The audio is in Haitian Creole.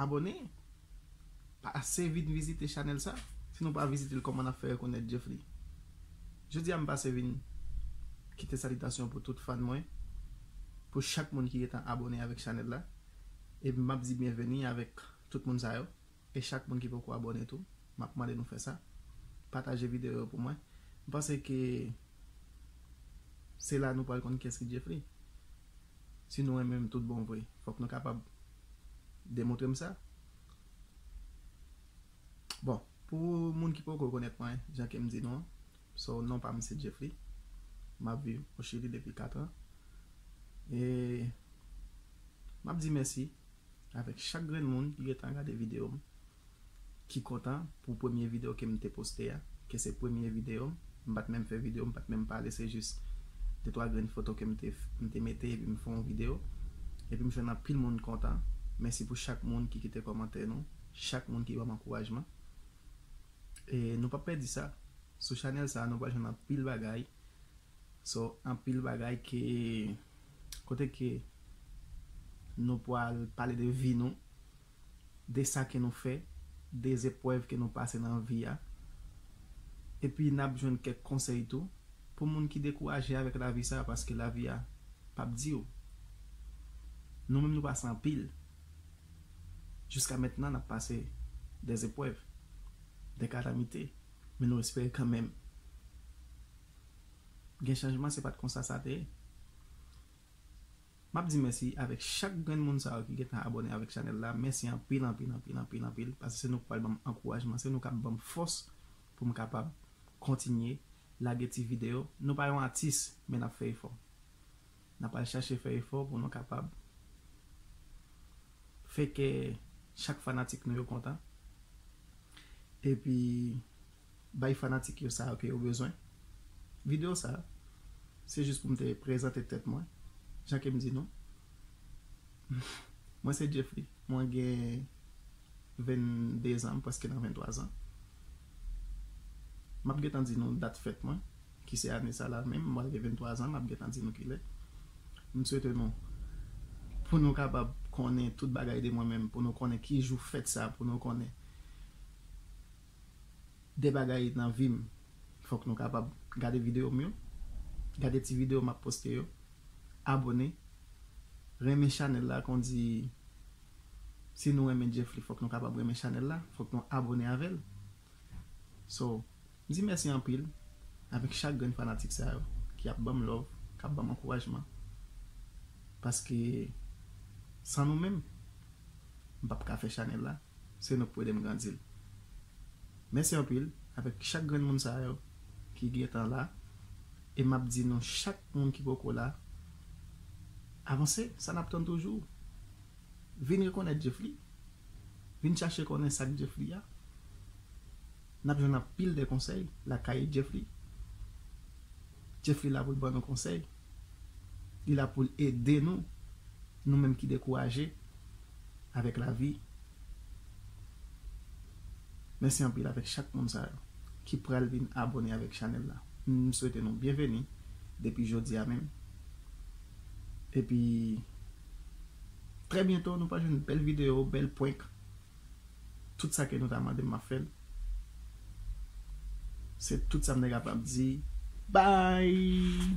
Abone Pase vin vizite chanèl sa Si nou pa vizitel kòman nap fè rekonèt Djeffly Jodi a m pase vin Kite salitasyon pou tout fan mwen Pou chak moun ki gentan abone avèk chanèl la E map di byenveni avèk tout moun sa yo E chak moun ki poko abone tou Map mande nou fè sa Pataje videyo yo pou mwen M panse ke Se la nou pral konn kiyès ki Djeffly Si nou renmen m tout bon vre, fòk nou kapab demontre m sa. Bon, pou moun ki poko konèt mwen, jan ke m di nou an, so non pa m se Jeffly. M ap viv o Chili depi 4 an. E m ap di mèsi avèk chak grenn moun ki gen tan gade videyo m. ki kontan pou premye video kem te poste a ke se premye video m m pat menm fè video m pat menm pale se jis de twa grenn foto ke m te mete epi m fè yon video epi m jwenn anpil moun kontan mèsi pou chak moun ki kite kòmantè nou chak moun ki banm ankourajman e nou pap pèdi sa sou chanèl sa nou pral jwenn anpil bagay so anpil bagay ke kote ke nou pral pale de vi nou. de sa ke nou fè, de zeprèv ke nou pase nan vi a. Epi nap jwenn kèk konsèy tou pou moun ki dekouraje avèk lavi sa paske lavi a pap diw. Nou menm nou pase anpil. Jiska mentnan nap pase de zeprèv, de kalamite men nou espere kanmenm gen chanjman se pat konsa sa te ye. Map di mèsi avèk chak grenn moun sa yo ki gentan abòne avèk chanèl la mèsi anpil anpil anpil anpil anpil paske se nou ki pral banm ankourajman se nou kap banm fòs poum kapab kontinye lage ti video nou pa yon atis men nap fè efò nap al chache fè efò pou nou kapab fè kè chak fanatik nou yo kontan epi bay fanatik yo sa yo ke yo bezwen. Video sa, se jis pou m te prezante tèt mwen, jan ke m di nou, mwen se Djeffly, mwen gen 22 zan, m prèske nan 23 zan. M ap gen tan di nou dat fèt mwen, ki se ane sa la menm, m pral gen 23 zan, m ap gen tan di nou ki lè. M swete nou, pou nou kapab konnen tout bagay de mwen menm, pou nou konnen ki jou fèt sa, pou nou konnen. 2 bagay nan vi m fòk nou kapab gade videyo m yo gade ti videyo map poste yo abone renmen chanèl la kondi si nou renmen Djeffly fòk nou kapab renmen chanèl la fòk nou abone avèl so m di mèsi anpil avèk chak grenn fanatik sa yo ki ap banm love kap banm ankourajman paske san nou menm m pap ka fè chanèl la. Se nou k pou ede m grandi l. Mèsi anpil avèk chak grenn moun sa yo ki gentan la e m ap di nou chak moun ki poko la avanse sa n ap tann toujou vin rekonèt Djefli vin chache konnen sa k Djefli a n ap jwenn anpil de konsèy lakay Djefli. Jeffrey la pou l ban nou konsèy. Li la pou l ede nou, nou menm ki dekouraje avèk lavi. Mèsi anpil avèk chak moun sa yo ki pral vin abone avèk chanèl la. M swete nou byenveni depi jodi a menm. Epi trè byento nou pral jwenn bèl videyo, bèl prank. Tout sa ke nou ta mande m map fè l. Se tout sa m te kapab di. Bye!